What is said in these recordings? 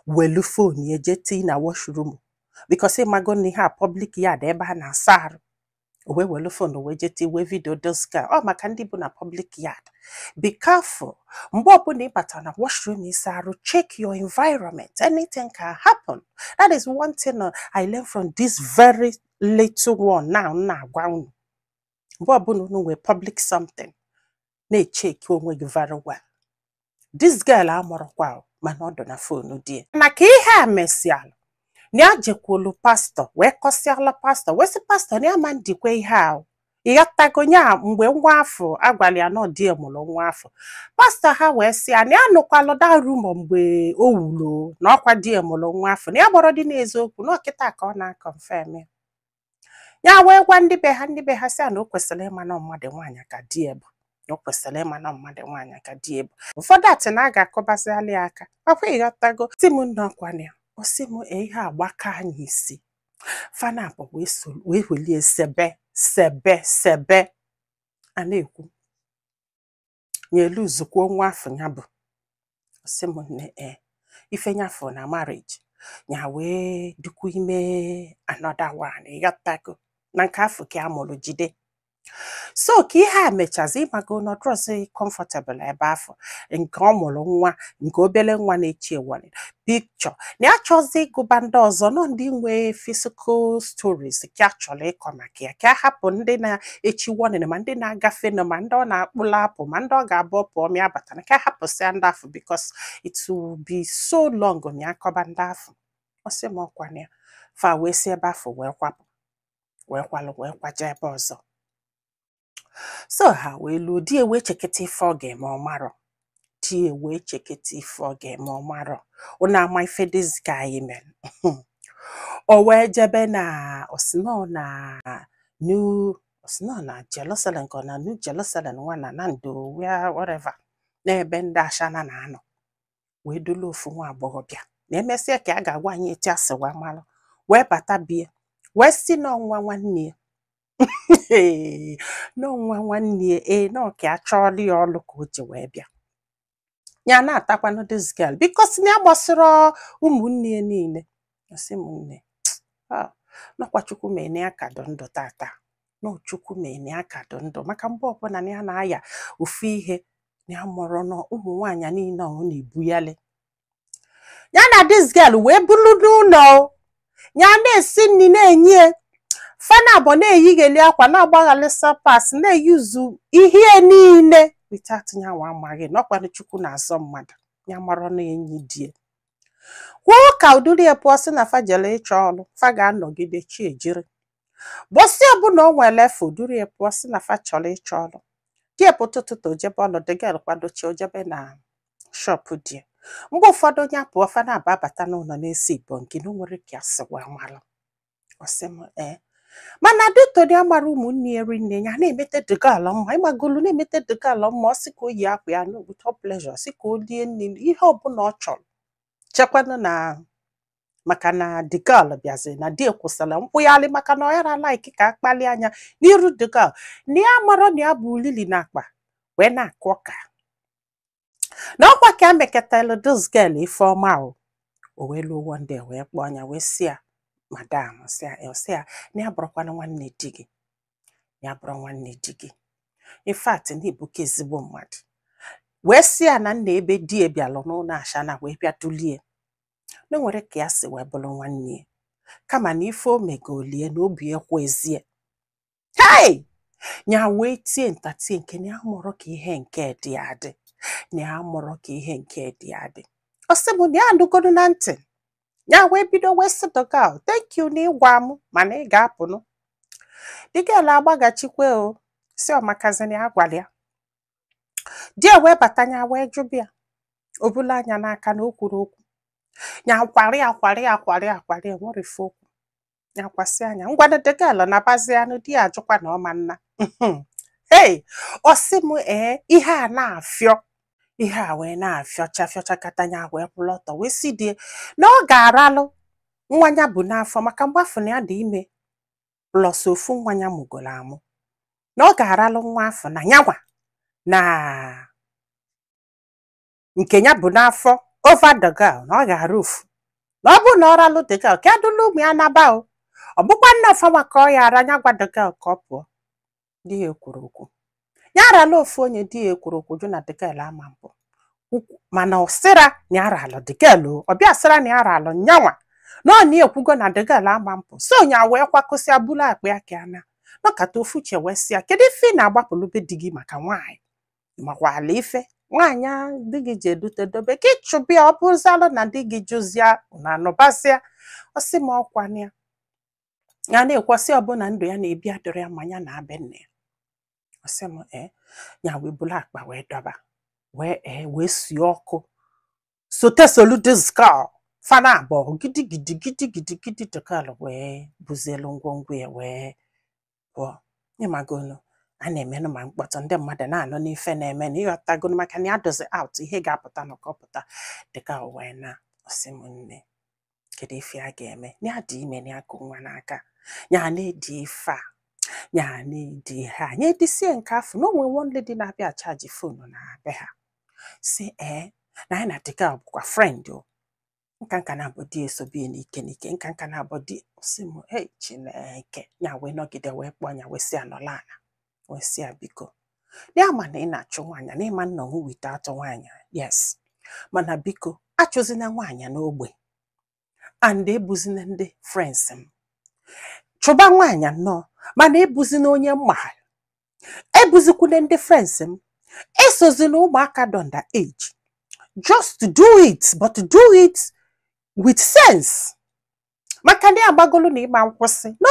welu phone ya jee tii na washroom because ịmago na ihe a public yard ebe a na-asa arụ o wee welu phone wee jee tii wee video doska ọ maka ndị bu na public yard be careful mgbe ọbụla ị batara na washroom ịsa arụ check your environment anything can happen that is one thing uh, I learned from this very little one now m na-agwa unu mgbe ọbụla unu nwee public something na-echeck onwe gị very well this girl amarọkwa o, mana ọ dụ na phone di ya na ka ihe a mesịalụ na ya jekwulu pastor wee kọsịala pastor wee sị pastor na ya ama ndikwe ihe ahụ ịghọtago nya mgbe nwa afụ agwara ya na ọ di mụrụ nwa afụ pastor ha wee sị ya na ya nụkwalụ the rumor mgbe o wulo na ọkwa di mụrụ nwa afụ na ya gbọrọ dị n'eziokwu na ọ kịta ka ọ na-aconfirm ya ya wee gwa ndị be ha ndị be ha sị ya na o kwesịrị ịma na mmadụ nwaanyị ka di ya bụ na o kwesịrị ịma na mmadụ nwaanyị ka di ya bụ ụfọdụ asị na a ga-akụbazịalị ya aka ọkwa ịghọtago sị m nne ọkwa na ya ọ sị m "Ee, ihe agbaka anyị isi fa naabọ wee so- wee welie sebe sebe sebe a na-ekwu nye elu zukwuo nwa afụ ya bụ ọ sị m nne ee ife ya fụ na marriage ya wee dịkwu ime another one ịghọtago na nke afụ ka ya mụrụ jide so ka ihe a mechazi ịmago na ọ drọzị comfortable ebe afụ nke ọ mụrụ nwa nke obere nwa na-echi ewere picture na ya chọzi ịgụba ndị ọzọ na ọ ndị nwee physical stories ka ya chọrọ ịkọ maka ya ka a hapụ ndị na-echi warning ma ndị na-agafenụ ma ndị ọ na-akpụla apụ ma ndị ọ ga-abụ ọ pụ ọ mịa abata na ka a hapụsịa ndị afụ because it will be so long na ya kọba ndị afụ ọ sị m ọkwa na ya fa wee si ebe afụ wee kwapụ wee kwalụ wee kwaje ebe ọzọ so ha wee luo di wee cheketa ife ọ ga-eme ọ marọ di wee cheketa ife ọ ga-eme ọ marọ unu ama ife this guy mere o wee jebe na ọ sị na ọ na new ọ sị na ọ na Jerusalem ka ọ na new Jerusalem nwa na Nando where whatever n'ebe ndị ashana na-anọ wee dulu ofu nwa agbọghọbịa na emesịa ka a ga-agwa anyị etu a si wee malụ wee bata bie wee sị na ọ nwa nwanne ya na ọ nwa nwanne ya ee na ọ ka a chọọlụ ya ọlụ ka o ji wee bịa ya na-atakwanụ this girl because na ya gbasịrị ụmụnne ya niile ọ sị m nne ah, na ọkwa Chukwu mene ya ka dụ ndụ tata na ọ Chukwu mene ya ka dụ ndụ maka mgbe ọbụla na ya na-aya ofu ihe na ya amarọ na ọ ụmụ nwaanyị niile ọ na-ebuyali ya na this girl wee bulu n'ụlọ ya na-esi nri na-enye fa naabọ na-eyighalị akwa na-agbaghalị slippers na-eyizu ihe niile without nyanwa amaghị na ọ kwanụ chukwu na-azọ mmadụ ya amarọ na enyi di ya kwuo ka o duru ya pụọ sị na fa jele ịchọ ọrụ fa ga-anọgide chi ejiri mbọsị ọbụla o nwere efe o duru ya pụọ sị na fa chọrọ ịchọ ọrụ di ya pụta ụtụtụ o jebe ọrụ the girl kwadochi o jebe na shop di ya mgbe ụfọdụ nya apụọ fa naabọ abata n'ụlọ na-esi ibo nke na o nwerọ ka ya si wee malụ ọ sị m ee mana dutoni amara ụmụnne ya rinne ya na-emete the girl mma ị magolu na-emete the girl mma ọ sị ka o yi akwa ya with all pleasure sị ka o lie nri ihe ọbụla ọ chọrọ chekwanụ na maka na the girl bịaziri na di ya akwụsịla nkwụgharị maka na ọ yarọ like ka a kpalịa nya n'iru the girl na ya amarọ na ya bu ulili n'akpa wee na-akụ ọka na ọkwa ka e mekatalụ this girl ife ọma o o wee luo one day wee kpọọ nya wee sị ya madam sị ya eh, sị ya na ya abụrọkwanụ nwanne di gị ya abụrọ nwanne di gị in fact na ị bụka ezigbo mmadụ wee sị ya na nna ebe di ya bịalụ n'ụlọ ashana wee bịa dulu ya na o nwerọ ka ya si wee bụrụ nwanne ya kama na ife o megolu ya na obi ekwezi ya hei nya wee tie ntatie nke na ya amarọ ka ihe nke dị adị na ya amarọ ka ihe nke dị adị ọ sị m na ya anụgodu na ntị ya wee bido wee sị the girl thank you na ị gwa m mana ị ga-apụnụ the girl agbaghachikwa ọ sị ọ makazi na ya gwara ya di ya wee bata ya wee jụba ya o bulu nya n'aka na o kwurọ okwu ya kwari akwari akwari akwari enwerọ ife o kwu nya kwasịa nya ngwanụ the girl nabazianụ di ya ajụkwa na ọ ma nna hey ọ sị m ee ihe a na-afịọ ihe a wee na-afịọcha fịọcha kata nya wee kwụrụ ọtọ wee sị di ya na ọ ga-aralụ nwa ya bu n'afọ maka mgbe afụ na ya dị ime plus ofu nwa ya mụgoro amụ na ọ ga-aralụ nwa afụ na nyanwa na nke ya bu n'afọ over the girl na ọ ga-ara ofu na ọ bụrụ na ọ ralụ the girl ka ya dulu ụmụ ya naba o ọ bụkwa na ọ fanwa ka ọ ya-ara ya gwa the girl ka ọ pụọ di ya ekwurọ okwu ya arala ofu onye di ya ekwurọ okwu jụ na the girl ama mpụ mana ọ sịrọ na ya ralụ the girl o ọ bịa sịrọ na ya ralụ nyanwa na ọ na ekwugo na the girl ama mpụ so nya wee kwakọsịa bulu akpa ya ka ya naa nọkata ofu uche wee sị ya kedu ife ị na-agbapụlụ be di gị maka nwaanyị makwa ala ife nwaanyị a di gị je dute dobe ka ị chụba ya ọ bụzalụ na di gị jụzịa ụnụ anọbazia ọ sị m ọkwa na ya ya na-ekwesị ọ bụ na ndụ ya na-ebi adịrọ ya mma ya naa be nne ya ọ sị m ee ya wee bulu akpa wee dọba wee ee wee sie ọkụ sote solu this girl fa na abụọ gidigidi gidigidi gidi the girl wee bụzielu ngwongwo ya wee pụọ ị magonu a na-emenụ ma mkpọtụ ndị mmadụ na-anụ n'ife na-eme na ị ghọtagonu maka na ya dozi out ihe ga-apụta na ọ kọpụta the girl wee naa ọ sị m nne kedu ife a ga-eme na ya dị ime na ya ku nwa n'aka ya na-edi ife a ya na-edi ihe a ya edisie nke afụ na o nwee one lady na-abịa achaji phone na be ha sị ee na ya na the girl bụkwa friend o nka nka na-abụ di ya esobe ya n'ike n'ike nka nka na-abụ di sị m hey chineke ya wee nọgide wee kpọọ ya wee sị ya nọlụ ana wee sị ya biko ya ma na ị na-achụ nwaanyị, na ị ma nọnwu without nwaanyị yes mana biko achụzina nwaanyị n'ogbe and ebuzina ndị friends m chụba nwaanyị nnọọ mana ebuzina onye m ma ebuzikwune ndị friends m esozina ụmụaka dị under age just do it but do it with sense maka na ya amagolu na ị ma nkwụsị no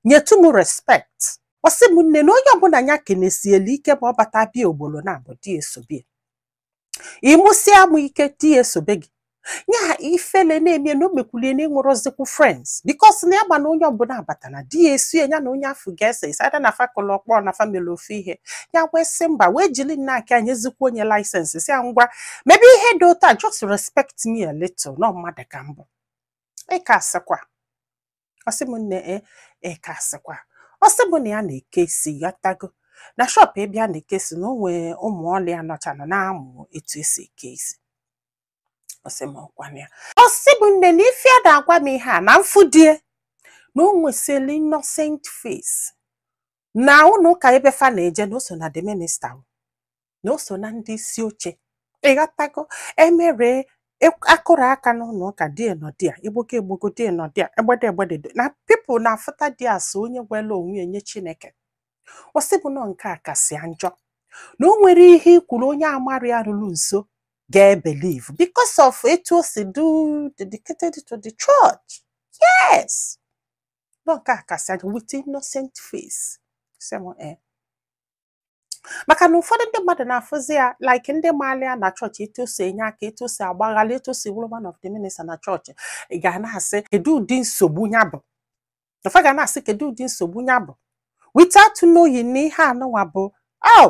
nyetụ m respect ọ sị m nne na onye ọbụla ya kenesielu ike ma ọ bata bịa ogbolo na-abụ di ya esobe ya ị mụsie amụ ike di ya esobe gị ya ifele na-eme ya na o mekwulu ya na ya enwerọzikwu friends because na ya ma na onye ọbụla abata na di ya esie ọnya na onye afụ ga-ese isi ada na fa kụlụ ọkpọ na fa melu ofu ihe ya wee sị mba wee jiri nnọọ aka ya nyezikwuo ya license sị ya ngwa mebe ihe dị otu a just respect me a little na mmadụ ka m bụ ị ka asịkwa ọ sị m nne e ị ka asịkwa ọ sị m na ya na-eke isi ị ghọtago na shop ebe ya na-eke isi na o nwee ụmụ ọlụ ya nọchanụ na-amụ etu esi eke isi ọ sị m ọ kwa na ya ọ sị m nne na ife ya na-agwa m ihe a na m fụ di ya na o nwesịrị innocent face na ụlọ ụka ebe fa na-eje na o so na the minister na o so na ndị isi oche ị ghọtago e mere e, a kụrụ aka n'ụlọ ụka di ya nọdịa egbogo egbogo di ya nọdịa egbede egbede na people na-afụta di ya as onye gwela onwe ya nye chineke ọ sị bụ na ọ nke a kasị njọ na o nwere ihe ị kwuru onye amara ya ruru nso ga-ebelieve because of etu o si dụ dedicated to the church yes na ọ nke a kasị njọ with innocent face sị m ee eh, maka na ụfọdụ ndị mmadụ na-afụzi ya like ndị maala ya na chọọchị etu o si enye aka etu o si agbaghalị etu o si wụrụ one of the minister na chọọchị ị ga na-asị kedu ụdị nsogbu ya bụ na fa ga na-asị kedu ụdị nsogbu ya bụ without knowing na ihe a nụnwa bụ oh